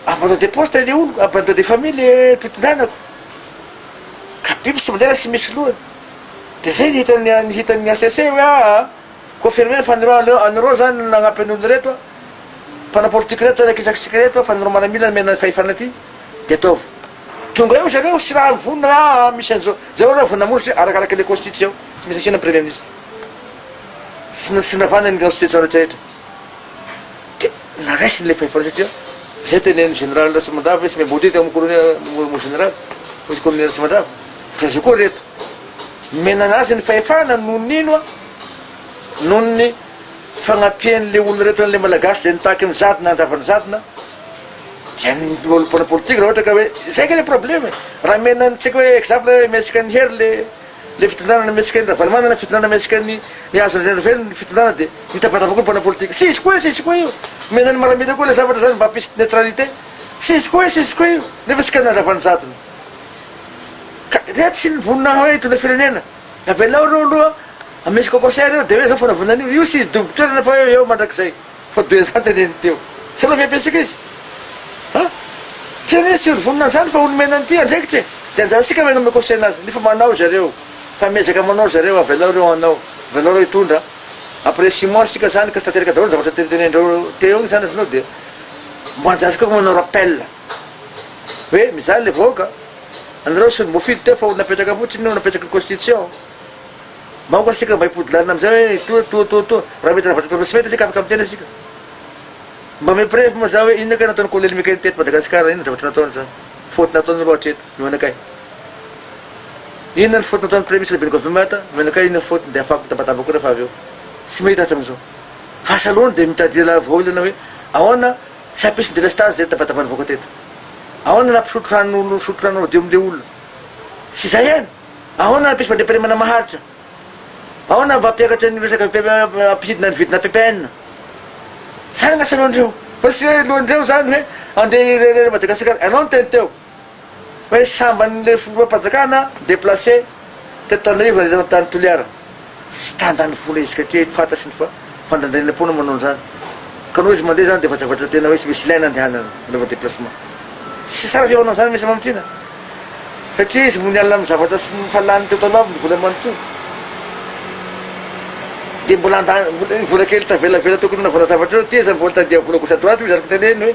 abandon de poste le oloko abandon de famille le mpitondrana ka biby tsy mandela tsy misy lohany de zay ny hitan'ny hitan'ny HCC hoe aa Confirmer fa an'ireo an'ireo zany no nagnampy an'olo reto a, mpanao politique reto zany akisakisika reto a, fa an'ireo manamila nomena fahefana ty de ataovy tonga eo zareo sy raha mivonona raha misy an'izao, zay aloha vao namoritra e, arakaraky le constitution tsy maintsy asiana premier ministre sy sy navana ny constitution rehetra rehetra de naraisiny le fahefana satria zay teneniny general Ratsimandrava hoe tsy miambody teo am colonel mo general, colonel Ratsimandrava, ohatran'izay koa reto. nomenana azy ny fahefana no nino a! noho ny fagnampian'le olona rehetra an'le malagasy zay nitaky ny zadina handrava ny zadina dia ny mpanao mpanao politika raha ohatra ka hoe zay nga le problème e! raha mena antsika hoe exemple hoe mihetsika an'i Hery le le fitondrana na mihetsika an'i Ravalomanana fitondrana mihetsika an'i Hazo Randrianarivelo ny fitondrana dia mitabataba koa ny mpanao politika tsy izy koa e! tsy izy koa io! omena an'i Maramila koa le zavatra zany mba hampisy neutralité tsy izy koa e! tsy izy koa io! nefa isika no nandrava ny zadina Ka dia tsy ny vonona hoe hitondra firenena. Avelao ireo aloha misy concert ireo dia hoe izao fanavoana an'io. Io tsy hidobo toerana fa eo mandrakizay. Fa dia izany teneniny teo. Tsy mba miha-pesaka izy. Ha? Tena izy tsy ho vonona an'izany fa ho nomena an'ity andraikitra e. Dia anjarantsika ve hanome conseil azy? Nefa manao ry zareo. Fa miezaka manao ry zareo. Avelao ireo hanao. Avelao ireo hitondra. Après six mois isika izany ka tsy tanteraka daholo ny zavatra notentenenin'ireo teo iny izany azonao dia mba anjarantsika koa manao rappel. hoe mijaly le vahoaka anareo sy ny mofily teo fa olona apetraka fotsiny io napetraky ny constitution mba oka sika mba hipody lalina amizay hoe toa toa toa toa raha mety raha vatatra sy mety sika afaka miteny sika mba me preve moa za hoe inona kay nataony kolonely mikainy teto madagasikara inona zavatra nataony zany faute nataony loha hatreto no anakay inona ny faute nataony premier ministre beniko vimata no anakay inona faute ny de afako mitabataba koa refa avy eo sy mahita hatramin'izao fa salony de mitadiala vahaolana hoe ahoana Tsy hampisy delestazy zay tabataba nivoaka teto. Ahoana raha mpisotro rano no misotro rano madio amin'ilay olona? Tsy izay ihany. Ahoana raha mpisy fandriampahalemana maharitra? Ahoana raha mba hampiakatra an'io resaka hampisidina ny vidina ppn? Zany angasa lohan'ireo. Fa tsy hoe lohan'ireo zany hoe andeha hirehareha Madagasikara. Ianao niteny teo. Hoe sambany le filoham-panjakana deplace teto Tanarivo nandeha tao tany Toliara. Tsy tandany foana izy ka teo fantatry ny fandandaniana poana manao an'izany. Ka noho izy mandeha zany dia efa zavatra tena hoe tsy misy ilaina andehanana anaovana déplacement. Tsy tsara ve ho anao zany Minisitra Mamitiana? Satria izy mony alina amin'ny zavatra tsy efa lany teo taloha amin'ny vola manontolo. Dia mbola handany vola kely tavelavela tokony nanaovana zavatra eo ty izy mbola tadiavina gauche à droite hoy izany kitay lehiny hoe.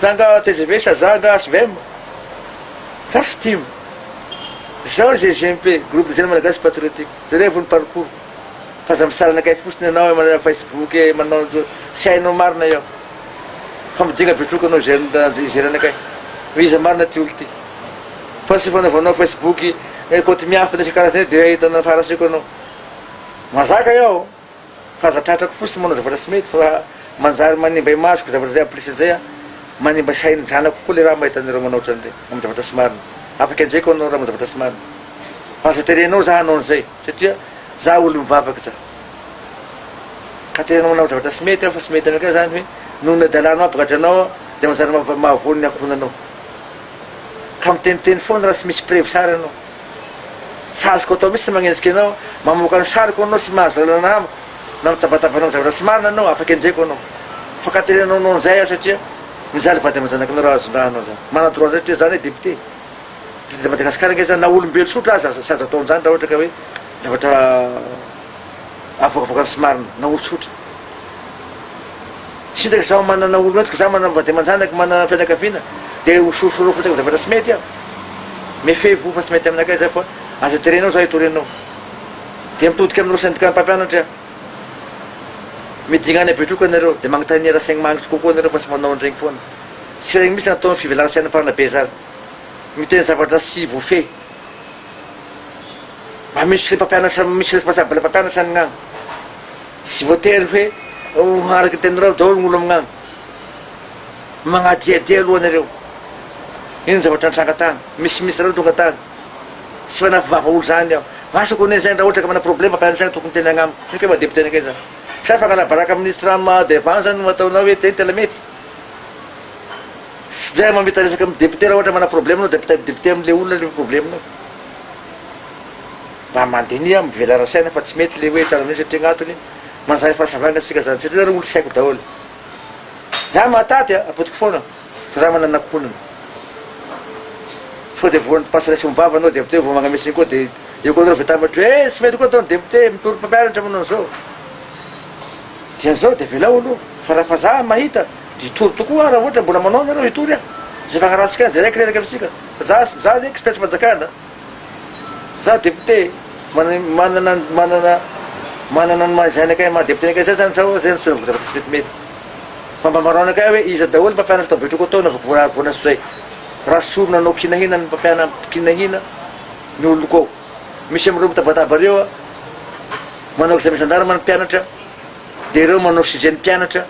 Zanga tgv sa zanga svm? Za tsy tim. Zao GGMP, groupe des jeunes malagasy patriotique, jereo vony parcours fa aza misarana kay fotsiny anao eo amina facebook e manao tsy hainao marina eo fa midinga betroka anao jeune ijerena kay hoe iza marina ty olo ty fa tsy fanaovanao facebook kaoty miafina isakarazany eo dia ahitana faharasiako anao mazaka eo F'aza tratrako fotsiny manao zavatra tsy mety fa manjary manimba imasoko zavatra zay amplisiny zay an! Manimba sain'ny zanako koa le raha mahita anareo manao otran'ireny amin'ny zavatra tsy marina. Afaka enjehiko anao raha manao zavatra tsy marina. Fa aza terenao za hanao an'izay satria za olo mivavaka za. Ka terenao manao zavatra tsy mety aho fa tsy mety anakay zany hoe noho ny adalanao ampigadranao aho de manjary mahavoa ny ankohonanao. Ka miteniteny foana raha tsy misy preuve sary anao. Tsy azoko atao mihitsy ny magnenjika anao, mamoaka ny sariko anao sy mahazo lalana amiko na mitabataba hanao ny zavatra tsy marina anao, afaka enjehiko anao. Fankaterenanao anao an'izay aho satria mijaly vady aman-janakinao raha azon-draha anao izany. Manadroa an'izay satria za anie député. Député de Madagascar ange za na olombelo sotra aza tsy azo atao an'izany raha ohatra ka hoe zavatra avoakavoakany sy marina na olon-tsotra. Sitraka zaho manana olona entiko zaho manana vady aman-janaka manana fianakaviana dia ho sorosoro fotsiny amin'ny zavatra tsy mety aho mifehy voho fa tsy mety aminakay izay fa aza terenao zaho hitory anao dia mitodika amin'ireo syndicat-n'ny mpampianatra aho midinga any Betroka ianareo dia magnontania raha saigny magnitra kokoa ianareo fa tsy manao an'iregny foana tsy regny mitsy natao ny fivelan-tsaina mpanabe zany miteny zavatra tsy voafehy mba misy mpampianatra misy responsable mpampianatra ny gnagny Tsy voatery hoe ho araka ny teninareo daholo ny olona magnano. Magnadiadia aloha nareo. Ino ny zavatra nitranga tany? Misy mihitsy nareo tonga tany. Tsy manafy vava olo zany aho. Vasa ko anie zany raha ohatra ka mana problema ka zany tokony tena agnamiko. Ino kay maha député anakay zany? Sa fangala baraka amin'ny ministre Rama Devan zany no ataonao hoe zay no tena mety? Tsy zay mamita resaka amin'ny député raha ohatra mana problema anao de apetaha député amle olona le problemanao. Raha mandiniha aho mivela ara-saina fa tsy mety ilay hoe tsara minisitra satria gnatony manjary fahasambaina tsika zany satria nareo olo tsy haiko daholo. Zah mahatady a, apodiko foana fa zah manana ankohonana. Sao dia voan'ny mpasa resy ombava anao depte vao magname siny koa de eo koa nareo vetambatra hoe eh tsy mety koa atao ny depte mitory mpampianatra manao an'izao. Dia zao dia avelao aloha fa raha fa zah mahita dia hitory tokoa aho raha ohatra mbola manao nareo hitory aho zay fagnarahantsika jereo kireraka misika fa zah zah anie tsy mpiasampanjakana. Za député manana manana manana ny maha izay anakay maha député anakay zay zany sao zay no soloiko zavatra tsy metimety. Fa mba ambarao anakay hoe iza daholo mpampianatra tao Betroko tao navoko voaravona sy zay. Raha sorona anao kinahina ny mpampiana kinahina ny oloko ao. Misy amin'ireo mitabataba ireo a manao examen gendarme ny mpianatra de ireo manao CG ny mpianatra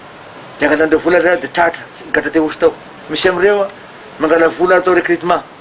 de angalan'ireo vola zay de tratra gadra te hosy tao. Misy amin'ireo a mangala vola atao recrutement.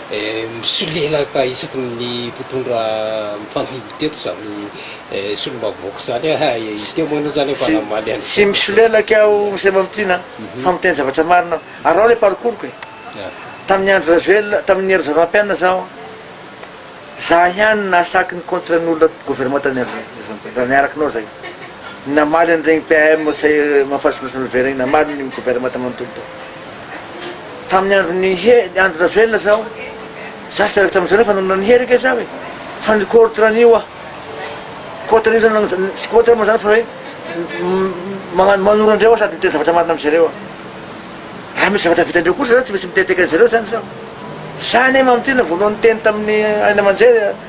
Misolelaka isaky ny mpitondra mifandimby teto izany solombavambahoaka izany a! Izy teo moa aloha izany efa namaly an'izany. Tsy misolelaka aho Monsieur Mamitiana a! Fa miteny zavatra marina aho. Araho ilay parcours-ko e! Tamin'ny andro Rajoelina, tamin'ny hery Zavapianina izaho, za ihany nahasaky ny contrat-n'olona governemanta raha niaraka anao izay. Namaly an'ireny PAM sy Mahafaly Solomaso Nouvelle ireny, namaly ny governemanta manontolo tao. tamin'ny andron'i Andry Rajoelina zaho, za tsy tarakitra aminjareo fa namonoana an'i Hery ange zaho e, fa ny contre an'io aho, contre an'io zany, tsy contre moa zany fa hoe magnano manoro andreo aho sady miteny zavatra marina amizareo aho, raha misy zavatra vitandreo kosa zany tsy maintsy miteteka anzareo zany zaho, za anie mamintina voalohany niteny tamin'ny haino aman-jery.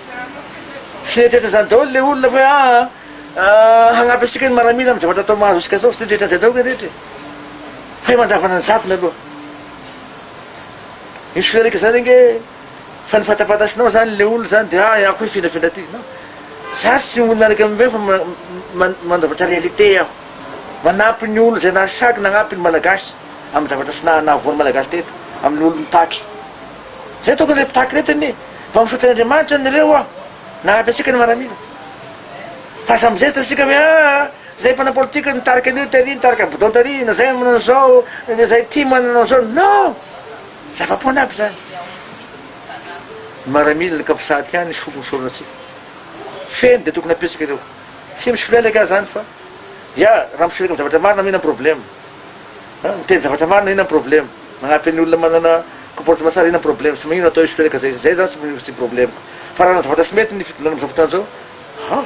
Tsy nieritreritra izany daholo ilay olona fa hoe aa hagnampy antsika ny maramila amin'ny zavatra atao mahazo antsika zao, tsy nieritreritra an'izay daholo ny rehetra e. Fa mandavana ny jadona aloha. Io solelika izany ange fa ny fatafatasinao izany ilay olona izany dia ah ako hifindrafindra aty. Non. Za tsy mino miaraka amin'ireny fa mandavatra réalité aho. Manampy ny olona izay nahasaky nagnampy ny Malagasy amin'ny zavatra tsy naha nahavoa ny Malagasy teto, amin'ny olona mitaky. Zay tokony ilay mpitaky aretina e! Mba misaotra an'Andriamanitra ny reo aho nanampy asika ny maramila. Fa aza mizesta asika hoe aa zay mpanao politika nitarika an'io tary nitarika bidon tary na zay manao an'izao na zay ity manana an'izao no! Zava-poana aby zany. Ny maramila ny kapsaty ihany ny solon'ny soronantsika. Feno dia tokony ampiasika ireo. Tsy misolelaka aho zany fa ya raha misolelaka amin'ny zavatra marina mihina ny problema. Miteny zavatra marina ina ny problema. Manampy an'ny olona manana comportement sarihina ny problème sy maninona atao io sitereka zay zay zany sy maninona tsy problème fa raha zavatra tsy mety ny fitondràna amzao fotoana zao haa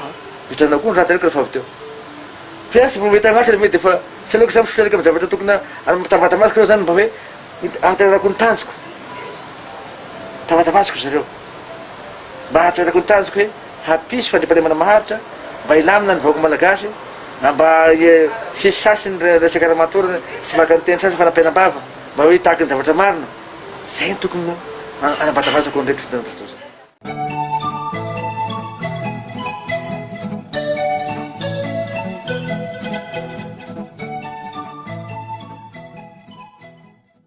vitanao koa ny ratsy reko refa avy teo fa tsy mety agnatry le me defa tsy aleoko za misitereka am zavatra tokona ary mitambata masoko reo zany mba hoe antererako ny tanjoko mitambata masoko zareo mba antererako ny tanjoko hoe Hampisy fandriampahalemana maharitra mba hilamina ny vahoaka Malagasy na mba hisesy sasy ny resaka ara-matorana sy maka ny teny sasany fanampiana am-bava mba ho hitaky ny zavatra marina. Izay no tokony ho hanabazabazako an'ireto fitondrana mpivory.